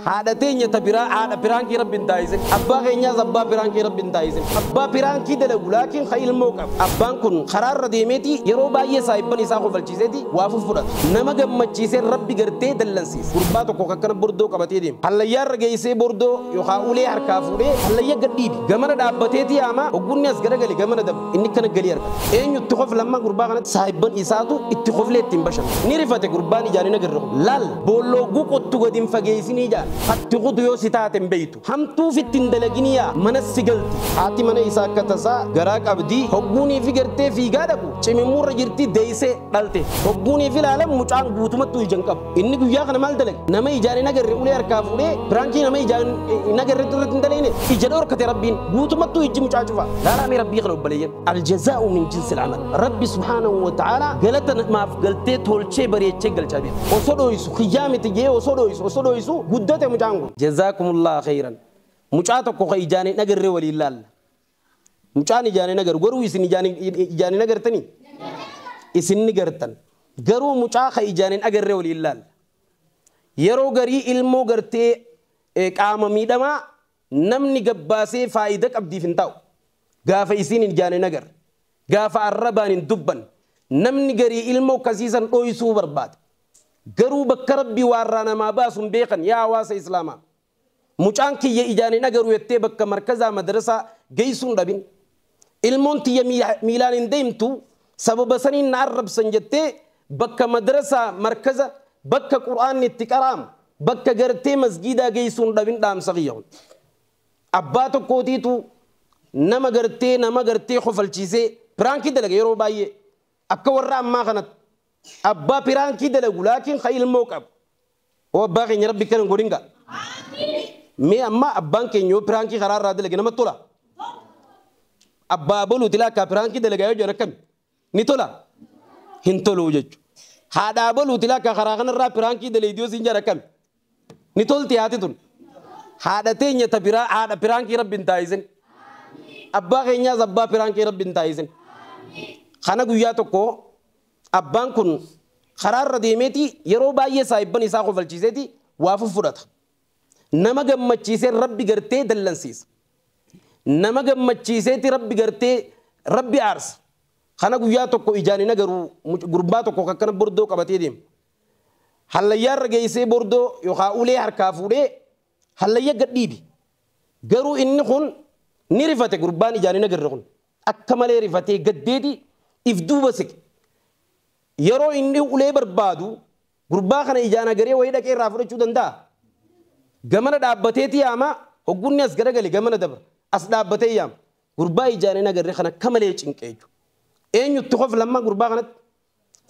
Haadha teenya ta biraa haadha piraankii rabbi hin taasisin. Abbaa keenyaas abbaa piraankii rabbi hin taasisin. Abbaa piraankii dalagu laakiin ka ilmoo qabu. Abbaan kun karaarra deemeeti yeroo baay'ee saahibban isaa kofalchiiseeti waa fuffudhata. Nama gammachiisee rabbi gartee dallansiisa. Gurbaa tokko ka akkana bordoo qabatee deemu. Hallayyaarra geessee bordoo yookaa ulee harkaa fuudhee hallayya gad dhiibi. Gamana dhaabbateeti yaama hogguu inni as garagale gamana dabra. Inni akkana galii argata. Eenyu itti kofla amma gurbaa kanatti saahibban isaatu itti koflee ittiin bashana. Ni rifate gurbaan ijaan hin agarre kun. Laal! Boollooguu qottu gadi hin fageessinii jaan. Hatti kutu yoo si taate hin beektu. Hamtuu ofitti hin dalaginii yaa manas si galti. Haati mana isaa akka tasaa garaa qabdi. Hogguu niifi gartee fiigaa dhaqu cimimmuurra jirti deessee dhalte. Hogguu niifi ilaalan mucaan guutumattuu ija hin qabu. Inni guyyaa kana maal dalage? Nama ijaan hin agarre ulee harkaa fuudhee piraankii nama ijaan hin agarre irratti hin dalegne ija dhorkate rabbiin guutumattuu ijji mucaa cufa. Laalaamee rabbii kana obboleeyyan. Aljazaa'u min jinsi al'amal. Rabbi subhaanahu wa ta'ala galata namaaf galtee tolchee bareechee galchaa beeku. Osoo dhooysu kiyyaa miti jee osoo dhooysu osoo dhooysu guddate mucaan kun. Jazaakumullah khayran. Mucaa tokko ka ijaan hin agarre waliin laalla. Mucaan ijaan hin agaru garuu isin ijaan ijaan hin agartanii? Isin ni gartan. Garuu mucaa ka ijaan hin agarre waliin laalla. Yeroo garii ilmoo gartee qaama miidhamaa namni gabbaasee faayida qabdiif hin taa'u. Gaafa isiin ijaan hin agarre. Gaafa arrabaan hin dubban. Namni garii ilmoo kasiisan dhoysuu barbaada. Garuu bakka rabbi waarraa namaa baasun beekan yaa hawaasa islaamaa. Mucaan kiyya ijaan hin agaru jettee bakka markazaa madrasaa geessuu hin dhabin. Ilmoon tiyya miilaan hin deemtu sababa saniin na arrabsan jettee bakka madrasaa, markaza, bakka qur'aanni itti qara'amu, bakka gartee masgiidaa geessuu hin dhabin dhaamsa kiyya kun. Abbaa tokkootiitu nama gartee nama gartee kofalchiisee piraankii dalaga yeroo baay'ee akka warra ammaa kanatti abbaa piraankii dalagu laakiin ka ilmoo qabu Oo abbaa keenya rabbi akkana hin godhin gaa. Mee amma abbaan keenya yoo piraankii karaa irraa dalage namatti tola? Abbaa boluuti laa akkaa piraankii dalagaa yoo jiran akkami? Ni tola? Hin toluu jechuudha. Haadhaa boluuti laa akkaa karaa kanarraa piraankii daleeydi yoo siin jiran akkami? Ni tolti haati tun. Haadha teenya ta piraa haadha piraankii rabbi hin taayisin. Abbaa keenyaas abbaa piraankii rabbi hin taayisin. Kana guyyaa tokko Abbaan kun karaa irra deemeeti yeroo baay'ee saahibban isaa kofalchiiseeti waa fuffudhata. Nama gammachiisee Rabbi gartee dallansiisa. Nama gammachiiseeti Rabbi gartee Rabbi aarsa. Kana guyyaa tokko ijaan hin agaru gurbaa tokko akkana bordoo qabatee deema. Hallayyaa irra geessee bordoo yookaan ulee harkaa fuudhee hallayya gad dhiibe. Garuu inni kun ni rifate gurbaan ijaan hin agarre kun. Akka malee rifatee gaddeeti if duuba siqe. Yeroo inni ulee barbaadu gurbaa kana ijaan agaree wayii dhaqee irraa fudhachuu danda'a? Gamana dhaabbateeti yaama, hogguu inni as garagale gamana dabra. As dhaabbatee yaama. Gurbaa ijaan hin agarre kana akka malee cinqe jechuudha. Eenyu itti kofla amma gurbaa kanatti?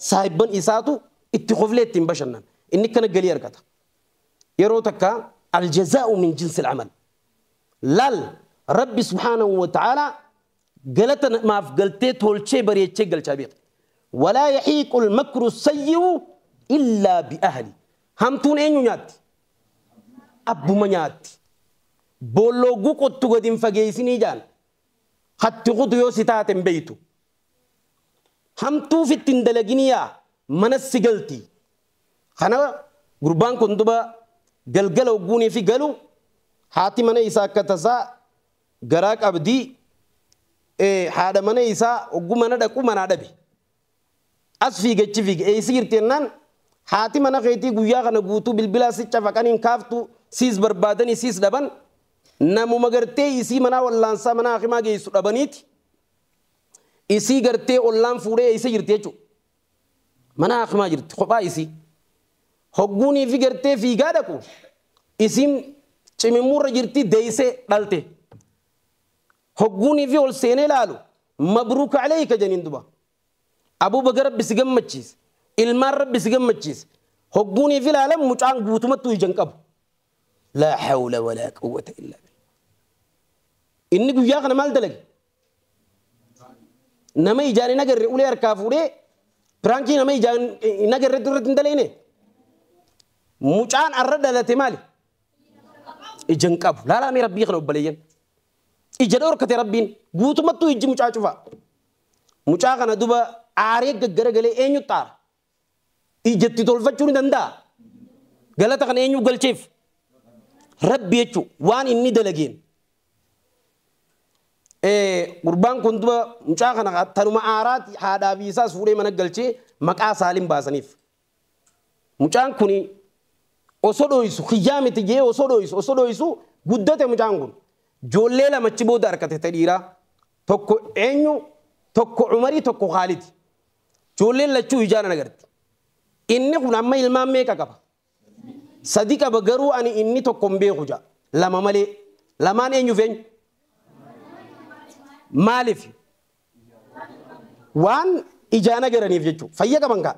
Saahibban isaatu itti koflee ittiin bashannana. Inni akkana galii argata. Yeroo takka aljazaa'u min jinsil amal. Laal, Rabbi subhaanahu wa ta'aalaa galata namaaf galtee tolchee bareechee galchaa beeka. Walaa yahiiqul makru sayyi'u illaa bi ahli. Hamtuun eenyu nyaatti? Abbuma nyaatti. Boolla hogguu qottu gad hin fageessinii jaan. Hatti kutu yoo si taate hin beektu. Hamtuu fitti hin dalaginii yaa manas si galti. Kana gurbaan kun duba galgala ogguuniifi galu haati mana isaa akka tasaa garaa qabdi haadha mana isaa oggu mana dhaqu manaa dhabe. As fiige achi fiige eessa jirti jennaan haati mana keetii guyyaa kana guutuu bilbilaa si cafaqan hin kaaftu siis barbaadanii siis dhaban namuma gartee isii manaa wallaansaa manaa hakimaa geessu dhabaniiti isii gartee ollaan fuudhee eessa jirti jechuudha. Mana Akmaa jirti kophaa isii. Hogguun ifi gartee fiigaa dhaqu isiin cimimmuurra jirti deeysee dhalte. Hogguun ifi ol seenee laalu mabruuka aleeyka janiin duba. Abuu baga rabbi si gammachiise. Ilmaan rabbi si gammachiise. Hogguun ifi laalan mucaan guutumattuu ija hin qabu. Laa hawla walaa quwwata illaa billah. Inni guyyaa kana maal dalage? Nama ijaan hin agarre ulee harkaa fuudhee piraankii nama ijaan hin agarre irratti hin daleene. Mucaan arra dhalate maali? Ija hin qabu. Laalaa mee rabbii kana obboleeyyan. Ija dhorkate rabbiin guutumattuu ijji mucaa cufaa. Mucaa kana duba aaree gaggaragalee eenyutti aara? ija itti tolfachuu ni danda'a. Galata kana eenyuuf galcheef? Rabbi jechuun waan inni dalageen. Gurbaan kun duba mucaa kana tanuma aaraati haadhaa fi isaas fuudhee mana galchee maqaa saalim baasaniif. Mucaan kun osoo dhooysu kiyyaa miti jee osoo dhooysu osoo dhooysu guddate mucaan kun. Joollee lamachi booda harkate ta dhiiraa. Tokko eenyu tokko umarii tokko khaalidi. Ijoolleen lachuu ijaan ana garti. Inni kun amma ilmaan meeqa qaba? Sadi qaba garuu ani inni tokko hin beeku ja'a. Lama malee. Lamaan eenyuuf eenyu? Maaliif? Waan ijaan agaraniif jechuudha. Fayya qaban kaa.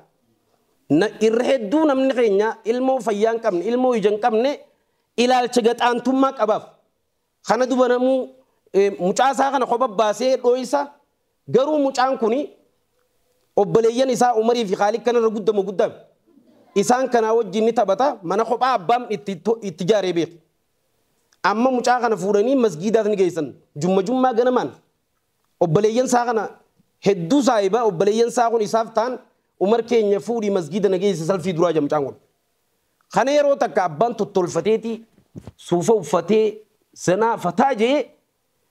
Irra hedduu namni keenya ilmoo fayyaa hin qabne, ilmoo ija hin qabne ilaalcha gaxaantummaa qabaaf. Kana duba namuu mucaa isaa kana kopha baasee dhooysa garuu mucaan kuni obboleeyyan isaa Umarii fi Khaalid kana irra guddamo guddaan isaan kanaa wajjin ni taphata mana kophaa abbaan itti itti jaaree beeku. Amma mucaa kana fuudhanii masgiidaas ni geessan jumma jummaa ganamaan obboleeyyan isaa kana hedduu saahiba obboleeyyan isaa kun isaaf taan Umar keenya fuudhii masgiida na geessi salfii duraa jira mucaan kun. Kana yeroo takka abbaan tottolfateeti suufa uffatee zanaa fataa je'ee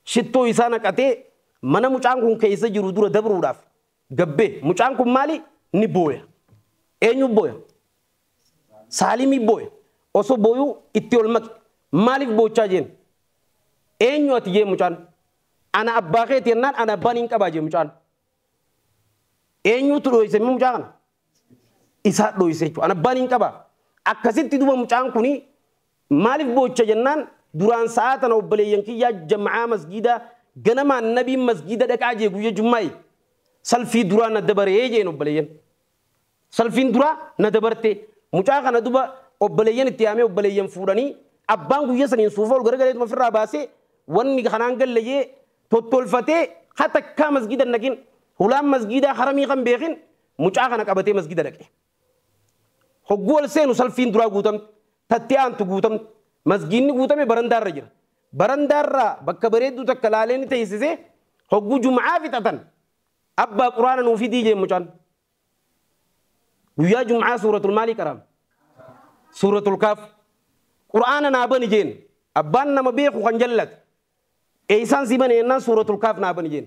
shittoo isaa naqatee mana mucaan kun keessa jiru dura dabruudhaaf gad bahe. Mucaan kun maali? Ni booya. Eenyu booya? Saalimi booya. Osoo booyuu itti ol maqe. Maaliif boochaa jeen? Eenyu ati jee mucaan? Ana abbaa keeti jennaan ana abbaa niin qabaa jee mucaan. Eenyuutu dhooyse mucaa kana? isaa dhoyse jechuudha. An abbaan hin qaba. Akkasitti duba mucaan kuni maaliif boocha jennaan duraan sa'aa tana obboleeyyan kiyyaa jam'aa masgiida ganamaan nabiin masgiida dhaqaa jee guyya jummaa'i. Salfii duraa na dabaree jeen obboleeyyan. Salfiin duraa na dabarte mucaa kana duba obboleeyyan itti yaamee obboleeyyan fuudhanii abbaan guyya saniin suufa ol garagaleetuma ofirraa baasee wanni kanaan galle jee tottolfatee hatakkaa masgiida hin dhaqin hulaan masgiidaa haramii kan beekin Mucaa kana qabatee masgida dhaqe. Hogguu ol seenu salfiin duraa guutamte, tatti aantu guutamte. Masgiinni guutame barandaarra jira. Barandaarraa bakka bareedduu takka laalee ni teessisee hogguu jum'aa fixatan abbaa quraana nuu fidii jeen mucaan. Guyyaa jum'aa suuratul maalii qaraame? Suuratul kaaf. Quraana naa bani jeen. Abbaan nama beeku kan jallate. Eeysaan si bane jennaan suuratul kaaf naa bani jeen.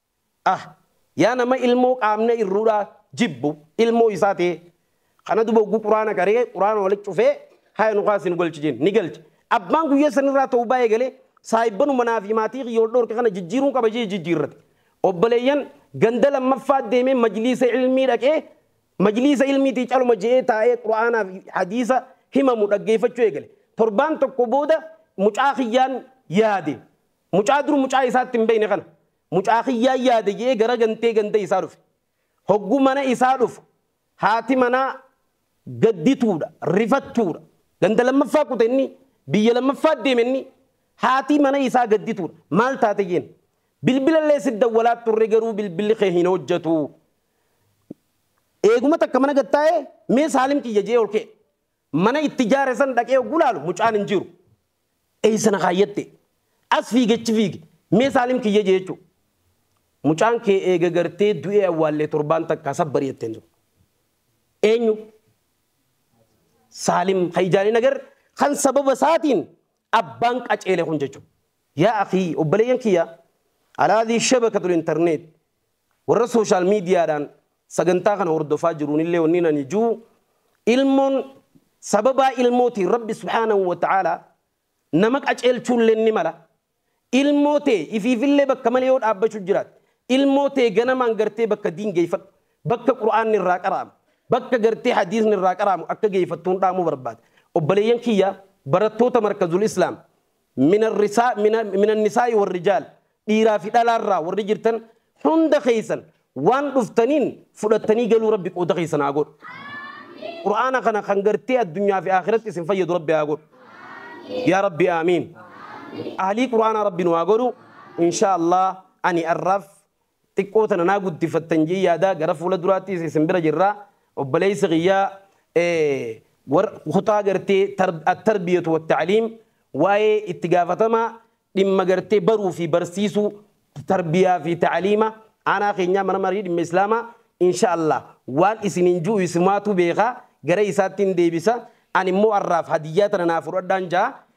ah yaa nama ilmoo qaamna irrudha jibbu ilmoo isaa tee kana duba oggu quraana qaree quraana wali cufee haya nu kaasi nu galchi jeen ni galche abbaan guyya san irraa tawbaa eegale saahibbanuma manaa fi maatii kiyya wal dhoorke kana jijjiiruun qaba jee jijjiirrate obboleeyyan ganda lammaffaa deemee majliisa ilmii dhaqee majliisa ilmiitii caluma je'ee taa'ee quraanaa fi hadiisa himamu dhaggeeffachuu eegale torbaan tokko booda mucaa kiyyaan yaade Mucaa dur mucaa isaa itti hin beekne kana mucaa kiyyaan yaade jedhee gara gantee ganda isaa dhufe. Hogguu mana isaa dhufu haati manaa gaddituudha, rifattuudha. Ganda lammaffaa kute inni, biyya lammaffaa deeme inni. Haatii mana isaa gaddituudha. Maal taate jeen? Bilbila illee si dawwalaa turre garuu bilbilli kee hin hojjetu. Eeguma takka mana gad taa'ee mee Saalim kiyya jedhee ol ka'e. Mana itti ijaare san dhaqee hogguu laalu mucaan hin jiru. Eessa na kaayyatte? As fiige achi fiige. Mee Saalim kiyya jee jechuudha. Mucaan kee eega gartee du'ee awwaallee torbaan takkaa sabbar jetteen sun. Eenyu? Saalim kan ijaan hin agarre kan sababa isaatiin abbaan qaceele kun jechuudha. Yaa akii obboleeyyan kiyya alaadii shabakatul intarneet Warra social media dhaan sagantaa kana hordofaa jiruun illee wanniin ani juu ilmoon sababaa ilmootiin rabbi subhaanahu wa ta'aalaa nama qaceelchuu illeen ni mala ilmoo tee ifiif illee bakka malee yoo dhaabbachuu jiraatte ilmoo tee ganamaan gartee bakka diin geeyfadhu bakka qur'aanni irraa qara'amu bakka gartee hadiisni irraa qara'amu akka geeyfattuun dhaamuu barbaada obboleeyyan kiyya barattoota markazul islaam min annisaa'i warrijaal dhiiraa fi dhalaa irraa warri jirtan hunda keessan waan dhuftaniin fudhattanii galuu rabbi qooda keessan haa godhu qur'aana kana kan gartee addunyaa fi akhiratti isin fayyadu rabbi haa godhu yaa rabbi aamiin ahlii qur'aanaa rabbi nu haa godhu inshaa allah ani arraaf Xiqqoo tana naa guddifattan jee yaadaa gara fuula duraattiis isin bira jirra obboleessa kiyya war kutaa gartee attarbiyatu watta'aliim waa'ee itti gaafatama dhimma gartee baruu fi barsiisuu tarbiyaa fi ta'aliima aanaa keenyaa mana marii dhimma islaamaa insha allah waan isiniin ju'u isumaatu beeka gara isaattiin deebisa ani immoo arraaf hadiyyaa tana naa fudhadhaan ja'a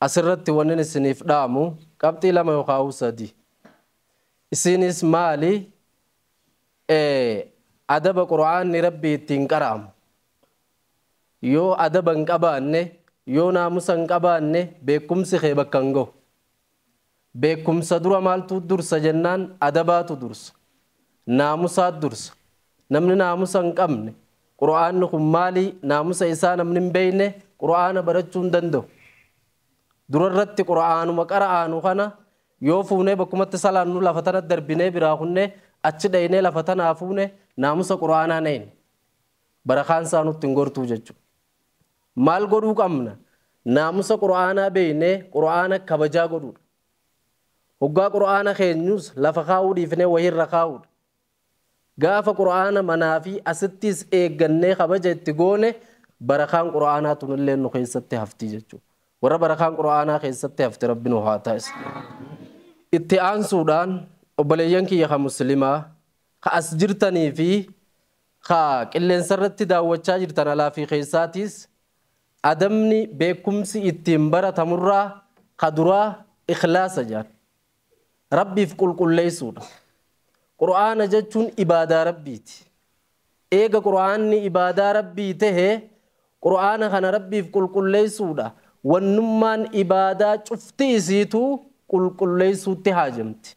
Asirratti wannin isiniif dhaamu qabxii lama yookaa'uu sadii. Isiinis maali? A. Adaba Qur'aanni Rabbii ittiin qara'amu. Yoo adaba hin qabaanne, yoo naamusa hin qabaanne beekkumsi kee bakka hin gahu. Beekumsa dura maaltu dursa jennaan adabaatu dursa. Naamusaat dursa. Namni naamusa hin qabne Qur'aanni kun maali naamusa isaa namni hin beeyne Qur'aana barachuu hin danda'u. Dura irratti Qur'aanuma qara'aanu kana yoo fuunee bakkumatti salaannu lafa tana darbinee biraa kunnee achi dhaynee lafa tanaa fuune naamusa Qur'aanaa hin eeyne. Barakaan isaa nutti hin gortuu jechuudha. Maal godhuu qabna? Naamusa Qur'aanaa beeknee Qur'aana kabajaa godhuudha. Hoggaa Qur'aana keenyus lafa kaa'uu dhiifnee wayii irra kaa'uudha. Gaafa Qur'aana manaa fi asittiis eeggannee kabaja itti goone barakaan Qur'aanaa tunilleen nu keessatti hafti jechuudha. Warra barakaan Qur'aanaa keessatti hafte Rabbi nu haa taasisu. Itti aansuudhaan obboleeyyan kiyya ka Muslimaa ka as jirtanii fi Ka qilleensarratti daawwachaa jirtan alaa fi keessaatiis adabni, beekumsi, ittiin baratamurraa ka duraa ikhlaasa jedhan. Rabbiif qulqulleessuudha. Qur'aana jechuun ibaadaa Rabbiiti. Eega Qur'aanni ibaadaa Rabbii tahe Qur'aana kana Rabbiif qulqulleessuudha. Wannummaan ibaadaa cufti isiituu qulqulleessuutti haajamti.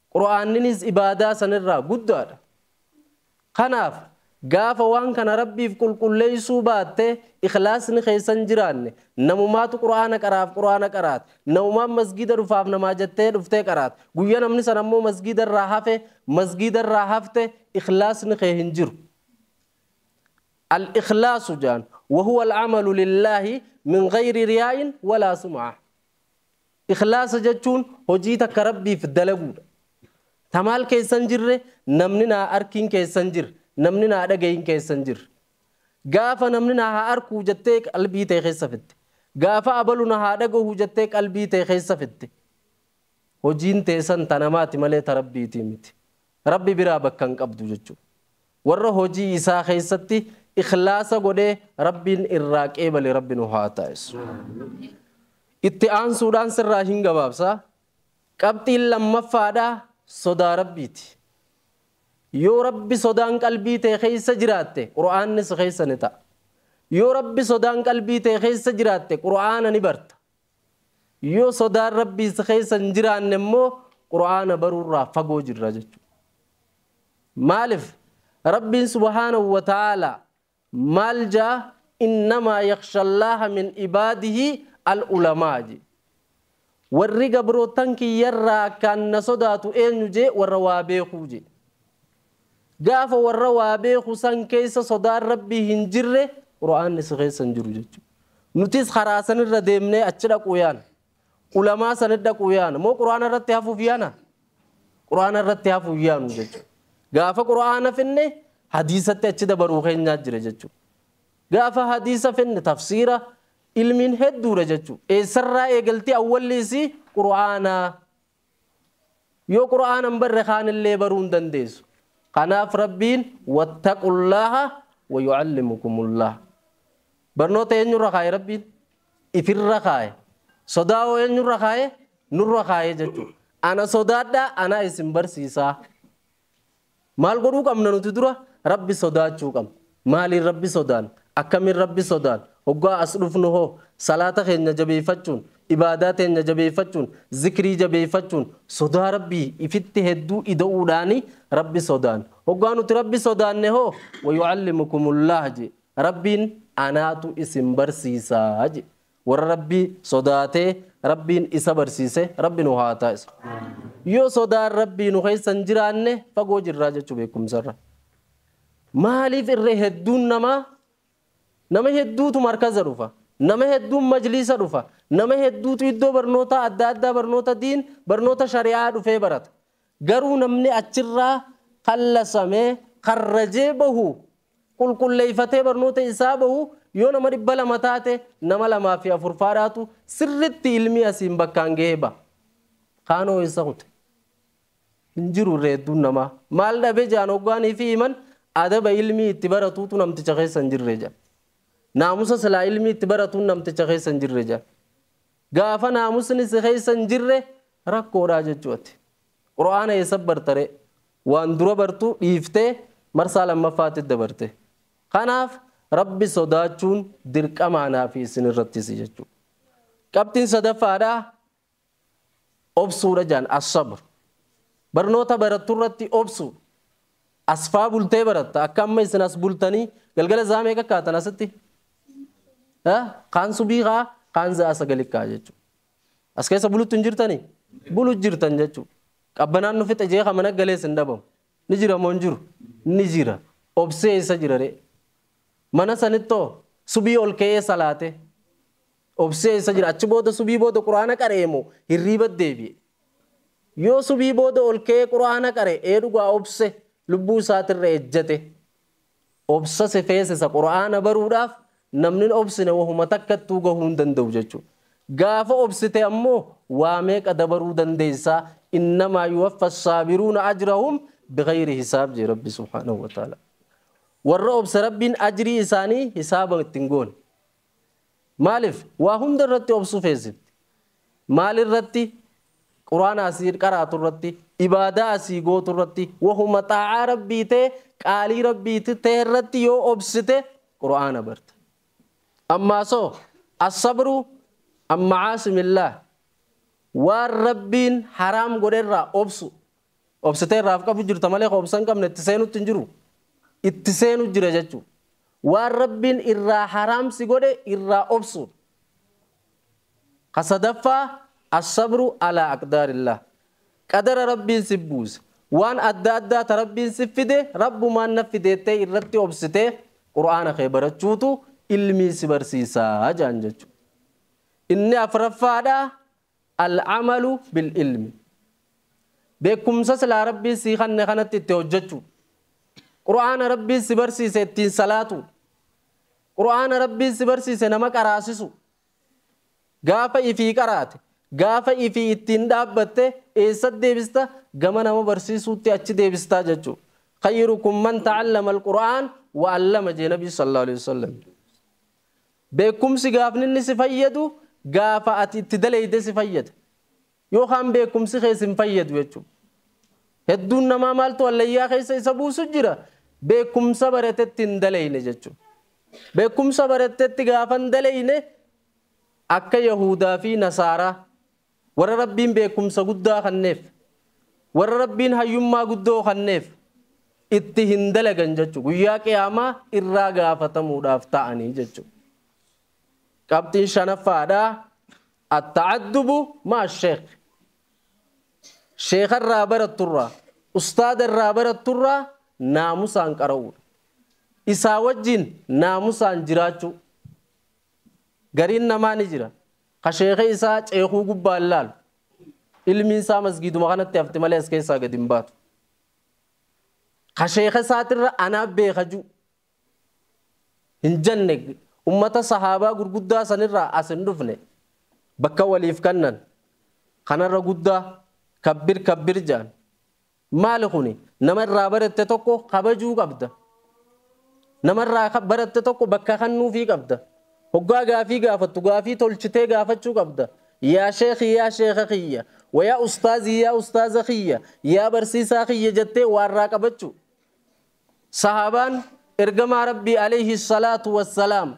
Qur'aanninis ibaadaa sanirraa guddaadha. Kanaaf gaafa waan kana Rabbiif qulqulleessuu baatte, ikhlaasni keessa hin jiraanne, namumaatu Qur'aana qaraaf Qur'aana qaraat, namumaan masgiida dhufaaf namaa jattee dhuftee qaraat, guyya namni san ammoo masgiidarraa hafe, masgiidarraa hafte, ikhlaasni kee hin jiru. Al-ikhlaasu jaan, wahuwa al-amalu lillaahi min ghayri riyaa'in walaa sum'ah. Ikhlaasa jechuun hojii takka Rabbiif dalaguudha. Ta maal keessa hin jirre, namni naa arkiin keessa hin jirre, namni naa dhagayin keessa hin jirre. Gaafa namni na haa arkuu jettee qalbii tee keessa fidde. Gaafa abalu na haa dhagahu jettee qalbii tee keessa fidde. Hojiin teessan ta namaati malee ta Rabbiitii miti. Rabbi biraa bakka hin qabdu jechuudha. Warra hojii isaa keessatti ikhlaasa godhee Rabbiin irraa qeebale Rabbi nu haa taasisu. Itti aansuudhaan sirraa hin gabaabsa. Qabxiin lammaffaadhaa sodaa Rabbiiti. Yoo Rabbi sodaan qalbii tee keessa jiraatte Qur'aanni si keessa ni ta'a. Yoo Rabbi sodaan qalbii tee keessa jiraatte Qur'aana ni barta. Yoo sodaan Rabbii si keessa hin jiraanne immoo Qur'aana baruurraa fagoo jirra jechuudha. Maaliif? Rabbiin subhaanahu wa ta'aalaa maal jaa innamaa yakhshallaaha min ibaadihi al-ulamaa jee. Warri gabroottan kiyyarraa akkaan na sodaatu eenyu jee warra waa beekuu jee. Gaafa warra waa beeku san keessa sodaan Rabbii hin jirre Qur'aanni si keessa hin jiru jechuudha. Nutis karaa san irra deemnee achi dhaquu yaana. Ulamaa sanatti dhaquu yaana. Moo Qur'aana irratti hafuuf yaana? Qur'aana irratti hafuuf yaanu jechuudha. Gaafa Qur'aana finne hadiisatti achi dabaruu keenyaa jira jechuudha. Gaafa hadiisa finne tafsiira ilmiin hedduudha jechuudha. Eessarraa eegalti awwalli isii Qur'aanaa. Yoo Qur'aana hin barre kaanillee baruu hin dandeessu. Kanaaf Rabbiin wattaqullaaha wa yu'allimukumullaah. Barnoota eenyurra kaaye Rabbiin? Ifirra kaaye. Sodaa hoo eenyurra kaaye? Nurra kaaye jechuudha. Ana sodaadhaa anaa isin barsiisaa. Maal godhuu qabna nuti dura? Rabbi sodaachuu qabna. Maaliin Rabbi sodaanna? Akkamiin Rabbi sodaanna? Hoggaa as dhufnu hoo? Salaata keenya jabeeyfachuun, ibaadaa teenya jabeeyfachuun, zikrii jabeeyfachuun, sodaa Rabbii ifitti hedduu ida'uudhaani Rabbi sodaanna. Hoggaa nuti Rabbi sodaanne hoo? Wayu'allimukumullah jee. Rabbiin anaatu isin barsiisa jee. Warra Rabbii sodaatee Rabbiin isa barsiise Rabbi nu haa taasisu. Yoo sodaan Rabbii nu keessa hin jiraanne fagoo jirraa jechuu beekumsarra. Maaliif irra hedduun namaa nama hedduutu markaza dhufa. Nama hedduun majliisa dhufa. Nama hedduutu iddoo barnootaa adda addaa barnoota diin barnoota shari'aa dhufee barata. Garuu namni achirraa kallasame, karrajee bahu, qulqulleeyfatee barnoota isaa bahu yoo nama 200 taate nama lamaa fi afur faadhaatu sirritti ilmii asiin bakkaan gahee baha. Kaanoo eessa kute? Hin jiru irra hedduun namaa. Maal dhabe jedhan hoggaan ifii himan adaba ilmii itti baratuutu namticha keessa hin jirre jedhan. Naamusa silaa ilmii itti baratuun namticha keessa hin jirre jedhan. Gaafa naamusni si keessa hin jirre rakkoodha jechuu ati. Qur'aana eessa bartaree? Waan dura bartu dhiiftee marsaa lammaffaatti dabarte. Kanaaf Rabbi sodaachuun dirqama anaa fi isin irrattis jechuudha. Qabxiin sadaffaadha obsuudha jaan as-sabr. Barnoota barattu irratti obsu. As faa bultee baratta akka amma isin as bultanii galgala zaa meeqa kaatan asitti? Eh, Kaan subii kaa kaan za'a sagali kaa jechuudha. As keessa bulutti hin jirtanii? Bulu jirtan jechuudha. Qabbanaan nu fixe jee kan mana galees hin dhabamu. Ni jira moo hin jiru? Ni jira. Obsee isa jira ree. Mana sanittoo subii ol ka'ee salaatee. Obsee eessa jira? Achi booda subii booda qur'aana qara'e moo hirriiba deebi'e? Yoo subii booda ol ka'ee qur'aana qare, ee dhugaa obse lubbuu isaatirra ejjete. Obsa si feesisa qur'aana baruudhaaf namnin obsine wahuma takkattuu gahuu hin danda'u jechuudha. Gaafa obsite ammoo waa meeqa dabaruu dandeessa innamaa yuwaffa assaabiruuna ajrahum bighayri hisaab jee rabbi subhaanahu wa ta'aalaa. Warra obse rabbiin ajrii isaanii hisaaba itti hin goone. Maalif waa hunda irratti obsuu feesifti? Maal irratti? Quraana asii qaraatu irratti, ibaadaa asii gootu irratti, wahuma xaa'aa Rabbii tee, qaalii Rabbii tee irratti yoo obsite Quraana barta. Ammaa soo assabru an ma'aasimillah waan Rabbiin haraam godhe irraa obsu Obsitee irraa of qabu jirta malee ka obsa hin qabne itti seenutti hin jiru. Itti seenu jira jechuudha. Waan Rabbiin irraa haraam si godhe irraa obsuudha. Ka sadaffaa as-sabru alaa aqdaarillaah. Qadara Rabbiin si buuse. Waan adda addaa ta Rabbiin si fide Rabbumaan na fideettee irratti obsitee Qur'aana kee barachuutu ilmii si barsiisaa jaan jechuudha. Inni afraffaadha Al-amalu bil-ilmi. Beekkumsa silaa Rabbiin sii kanne kanatti itti hojjachuu. Qur'aana Rabbiin si barsiise ittiin salaatuu. Qur'aana Rabbiin si barsiise nama qaraasisuu. Gaafa ifii qaraate, gaafa ifii ittiin dhaabbatte eessa deebista? Gama nama barsiisuutti achi deebistaa jechuu. Khayrukum man ta'allama al-Qur'aan wa allama jee Nabii sallallahu alaihi wasallam. Beekumsi gaafni inni si fayyadu gaafa ati itti daleeyde si fayyada. Yoo kaan beekumsi kee sin fayyadu jechuudha. Hedduun namaa maaltu hallayyaa keessa isa buusu jira beekumsa baratetti hin daleeyne jechuudha. Beekumsa barattetti gaafa hin daleeyne akka Yahuudaa fi Nasaaraa Warra Rabbiin beekkumsa guddaa kanneef, warra Rabbiin hayyummaa guddoo kanneef, itti hin dalagan jechu. Guyyaa Qiyaamaa irraa gaafatamuudhaaf ta'anii jechu. Qabxiin shanaffaadha. Atta'addubu ma'a sheekh. Sheekha irraa baratturraa, ustaada irraa baratturraa naamusaan qara'uudha. Isaa wajjin naamusaan jiraachuu. Gariin namaa ni jira. Ka sheekhi isaa ceekuu gubbaan laalu. Ilmiin isaa masgiiduma kanatti hafti malee as keessaa gad hin baatu. Ka sheekha isaatirra anaa beeka jiru. Hin jenne ummata sahaabaa gurguddaa sanirraa as hin dhufne bakka waliif kannan kanarra guddaa kabbir kabbir jaan Maali kuni nama irraa baratte tokko kabajuu qabda nama irraa baratte tokko bakka kannuufii qabda hoggaa gaafii gaafattu gaafii tolchitee gaafachuu qabda yaa sheekhi yaa sheekha kiyya wa yaa ustaazii yaa ustaaza kiyya yaa barsiisaa kiyya jettee waa irraa qabachuu Sahaabaan Ergamaa Rabbii Aleeyhi Salaatu Wassalaam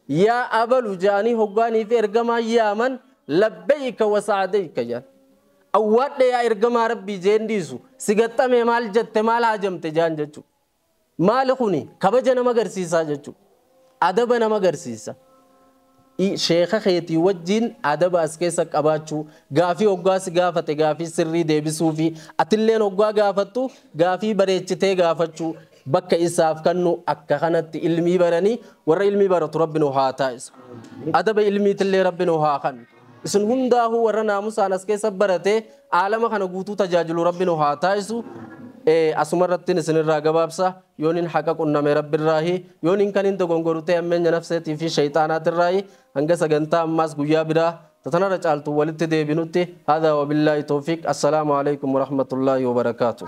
Yaa Abalu ja'anii hoggaaniif Ergamaan yaaman Labbeeyka wa Sa'adeeyka ja'an. Awwaadhe yaa Ergamaa Rabbii ja'een dhiisu si gaxxamee maal jatte maal haajamte ja'an jechuu. Maali kuni kabaja nama garsiisaa jechuu. Adaba nama garsiisa. I. Sheekha keetii wajjiin adaba as keessa qabaachuu, gaafii hoggaa si gaafate gaafii sirrii deebisuufi atilleen hoggaa gaafattu gaafii bareechitee gaafachuu, bakka isaaf kannu akka kanatti ilmii baranii warra ilmii baratu Rabbi nu haa taasisu. Adaba ilmiitillee Rabbi nu haa kannu. Isin hundaahuu warra naamusaan as keessa baratee aalama kana guutuu tajaajilu Rabbi nu haa taasisu. Asumarrattin isinirraa gabaabsa. yoonin haqa qunname Rabbirraahi, yoonin kanin dogongoru ta'e hammeenya nafseetii fi sheyxaanaatirraayi, hanga sagantaa ammaas guyyaa biraa ta tanarra caaltuun walitti deebinutti, haadhaa wabillaahi towfiiq, assalaamu aleykum warahmatullaahi wabarakaatuh.